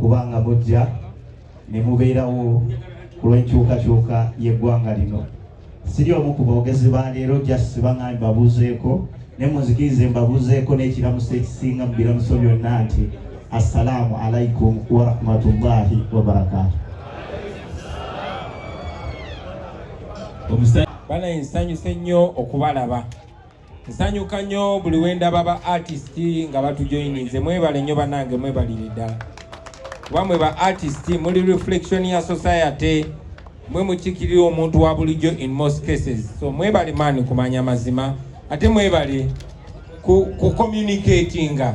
kubanga mujja ne mubeerawo ku lw'enkyukakyuka y'eggwanga lino siri omu ku boogezi ba leero just baŋambi babuuzeeko ne munzikirize mbabuuzeeko n'ekiramuso ekisinga mu biramuso byonna nti assalaamu alaikum warahmatullahi wabarakatu banaye nsanyuse nnyo okubalaba nsanyuka nnyo buli wendaba ba artist nga batujoyininze mwebale nnyo banange mwebalire ddala kuba mwe ba artist muli reflection ya society mwe mukikirira omuntu wa bulijjo in most cases so mwebale maani kumanya mazima ate mwebale ku, ku communicatinga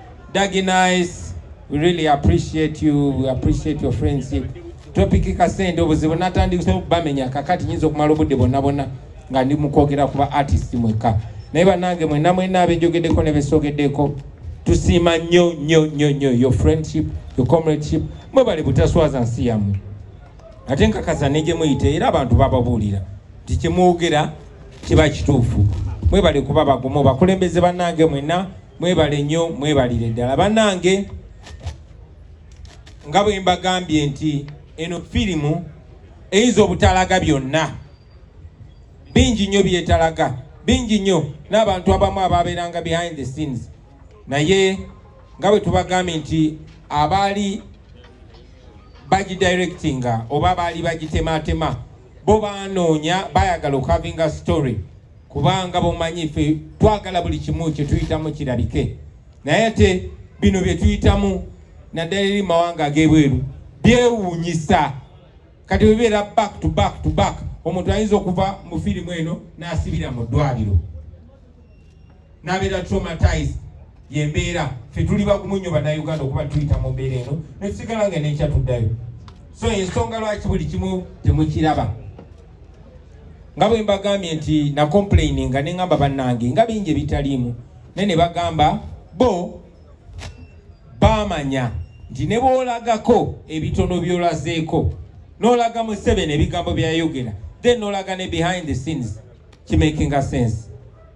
Dagi Nice, we really appreciate you, we appreciate your friendship. Topic kasente obuzibu natandikisa okubamenya kakati nyinza okumala obudde bonna bonna nga ndi mukwogera kuba artist mweka naye banange mwena mwena abejogedeko nebesogedeko tusiima nnyo nnyo nnyo nnyo your friendship your comradeship mwebale butaswaza nsi yammwe ate nkakasa negyemuyita era abantu bababuulira nti kyemwogera kiba kituufu mwebale kuba bagumu bakulembeze banange mwena Mwebale nnyo mwebalire ddala bannange, nga bwe mbagambye nti eno firimu eyinza obutalaga byonna, bingi nnyo byetalaga, bingi nnyo n'abantu abamu ababeeranga behind the scenes, naye nga bwe tubagambye nti abaali bagidirectinga oba baali bagitematema bo banoonya bayagala okavinga story kubanga bomanyi fe twagala buli kimu kyetuyitamu kirabike naye ate bino byetuyitamu naddala eri mawanga ag'ebweru byewuunyisa kati webeera back to back to back omuntu ayinza okuva mu firimu eno n'asibira mu ddwaliro n'abeera traumatized yembeera fe tuli bagumu nnyo banauganda okuba tuyita mu mbeera eno netusigala nga nenkya tuddayo so ensonga lwaki buli kimu temukiraba nga bwe mbagambye nti na complaini nga neŋamba bannange nga bingi ebitaliimu naye ne bagamba bo baamanya nti ne boolagako ebitono byolazeeko n'olaga museveni ebigambo byayogera then n'olaga ne behind the scenes kimakinga sense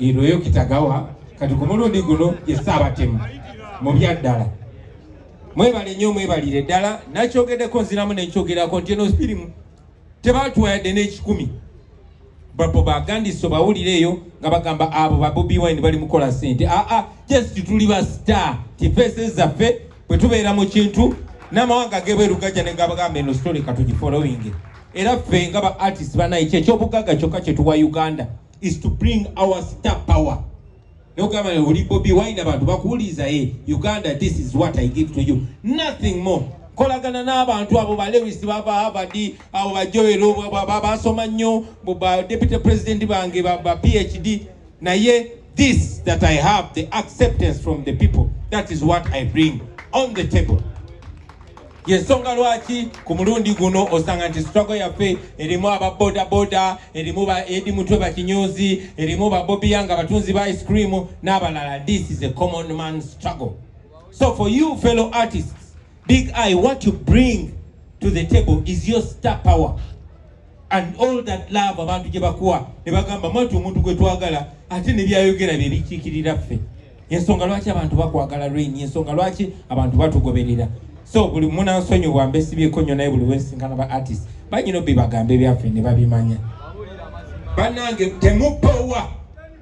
Irweyo Kitagawa kati ku mulundi guno ye Ssaabatemu mu byaddala mwebale nnyo mwebalire ddala nakyogeddeko nziramu nenkyogerako nti eno sirimu tebatuwa yadde n'ekikumi bapo bagandiso bawulire eyo nga bagamba abo babobi wine bali mukola sente aa ah, ah, just tuli ba star tifeese zaffe bwe tubeera mu kintu n'amawanga gebweru gajja ne gabagamba eno story katugifolowinge era ffe nga ba artist banaye kyekyobugaga kyokka kyetuwa uganda is to bring our star power nogamba oli bobi wine abantu bakuwuliza e eh, uganda this is what i give to you nothing more kolagana n'abantu abo ba lewis baba havard abo bajoero basoma nnyo ba deputy president bange ba phd naye this that i have the acceptance from the people that is what i bring on the table yensonga lwaki ku mulundi guno osanga nti sitwago yaffe erimu aba bodaboda erimu ba edi mutwe bakinyuzi erimu ba bobia nga batunzi ba ice cream n'abalala this is a common man struggle so for you fellow artists big eye what you bring to the table is your star power and all that love abantu gye bakuwa ne bagamba mwati omuntu gwe twagala ate ne byayogera bye bikiikirira ffe ensonga lwaki abantu bakwagala rain ensonga lwaki abantu batugoberera so buli munansonyiwa mbesibyeko nnyo naye buli wesinkana ba artist banyina obibagambe byaffe ne babimanya bannange temupowa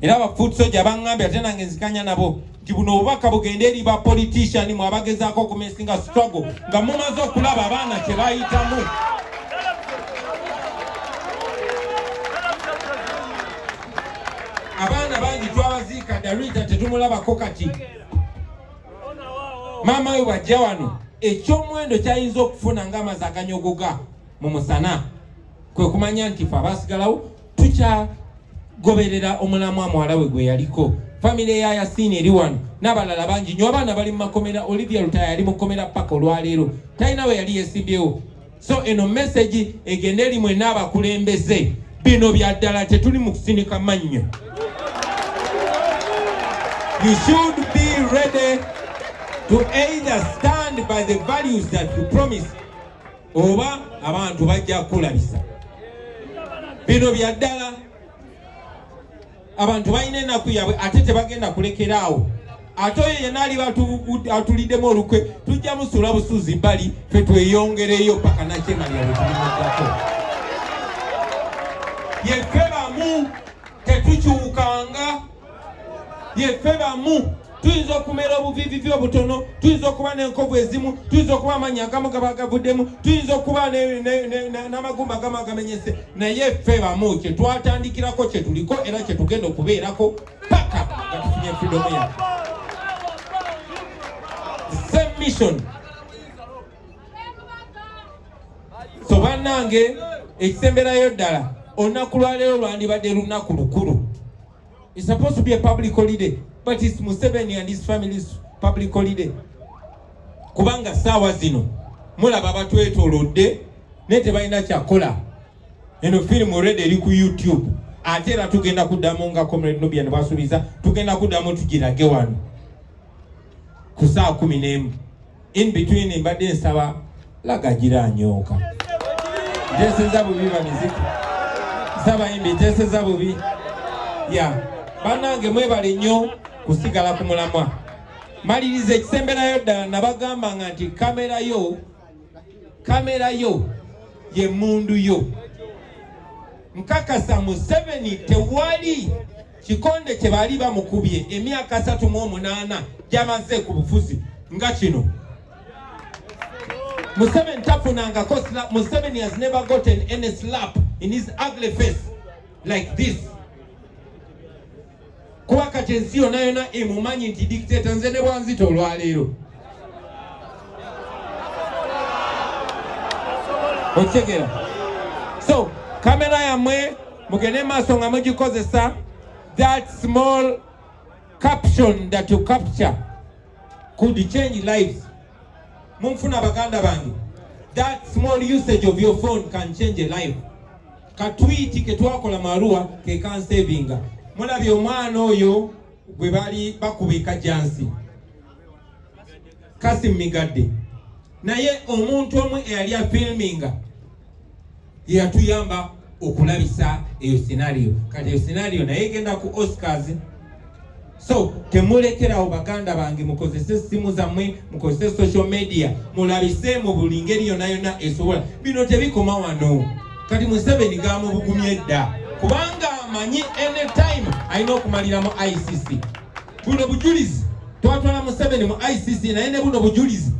era ba foot soja bangambye ate nange nzikanya nabo nti buno obubaka bugende eri ba politician mwe abagezaako okumesinga struggle nga mumaze okulaba abaana kyebayitamu abaana bangi twabaziika darita tetumulabako kati maama we bwajja wano ekyomuwendo kyayinza okufuna nga amazi aganyogoga mu musana kwe kumanya nti fe abasigalawo tukyagoberera omulamwa muwala we gwe yaliko famire ya yasiini eri wano n'abalala bangi nyo abaana bali mu makomera olivia lutaya yali mu kkomera paka olwaleero talina we yali yesimbyewo so eno mesagi egende eri mwena abakulembeze bino bya ddala tetuli mu kusinika mannyo you should be ready to either stand by the values that you promise oba abantu bajja kukulabisa bino bya ddala abantu balina ennaku yaabwe ate tebagenda kulekera awo ate oyo yena aliba atuliddemu olukwe tujja musula busuzi bali fe tweyongereyo paka nakyemalira bwetulimaddako yefe bamu tetukyukanga yeffe bamu tuyinza okumera obuviivivi obutono tuyinza okuba n'enkovu ezimu tuyinza okuba amaanyi agamu gaba gavuddemu tuyinza okuba n'amagumba agamu agamenyese naye ffe bamu kye twatandikirako kye tuliko era kye tugenda okubeerako paka nga tufunye fidomu yaffe same mission so bannange ekisemberayo ddala olunaku lwaleero lwandibadde lunaku lukulu is supposed to be a public holiday but its museveni and his family's public holiday kubanga saawa zino mulaba batwetolodde naye tebalina kyakola eno firimu red eri ku youtube ate era tugenda kuddamu nga comrade nubia ne basuubiza tugenda kuddamu tugirage wano ku saa kumi n'emu in between mbadde nsaba lagagira anyooka nteseza bubi bamiziki nsaba imbi nteseza bubi ya banange mwebale nnyo kusigala ku mulamwa maliriza ekisemberayo ddala nabagamba nga nti kamera yo kamera yo ye mundu yo nkakasa museveni tewali kikonde kye baali bamukubye emyaka asatu mu omunaana gyamaze ku bufuzi nga kino Museveni tafunangako slap. Museveni has never gotten any slap in his ugly face like this. Kuba kati ensi yona yona emumanyi nti dictator nze ne bwanzito olwaleero okitegera so kamera yamwe mugende maaso nga mugikozesa that small caption that you capture could change lives munfuna baganda bange that small usage of your phone can change a life katwiti ketwakola maruwa kekansevinga mulabye omwana oyo gwe bali bakuba ekajansi Kasim Migadde naye omuntu omu eyali afilminga yeyatuyamba okulabisa eyo scenario kati eyo scenario naye egenda ku Oscars so temulekerawo baganda bange mukozese essimu zammwe mukozese social media mulabise mu buli ngeri yona yona esobola bino tebikoma wano kati museveni gamubugumye edda kubanga amanyi anytime alina okumalira mu icc buno bujulizi twatwala museveni mu icc naye ne buno bujulizi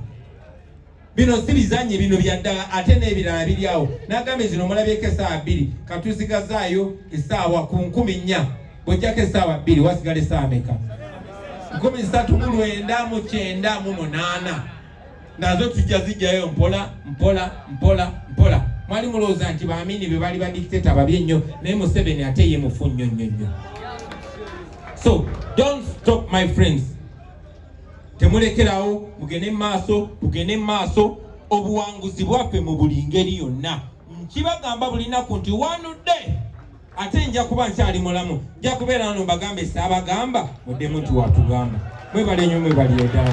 bino si bizanyi bino byaddala ate n'ebirala biri awo nagambye zino omulabyeko esaawa bbiri katuzigazaayo esaawa ku nkumi nnya bwojjako esaawa bbiri wasigala esaawa meka nkumi ssatu mu lwenda mu kyenda mu munaana nazo tujja zijjayo mpola mpola mpola mpola mwali mulowooza nti baamini be baali badikiteta babi ennyo naye museveni ate ye mufu nnyo nnyo nnyo so don't stop my friends temulekerawo mugende mu maaso mugende mu maaso obuwanguzi bwaffe mu buli ngeri yonna nkibagamba buli naku nti one day ate nja kuba nkyali mulamu nja kubeera no mbagambe saabagamba muddemu nti watugamba mwebale nyo mwebali edala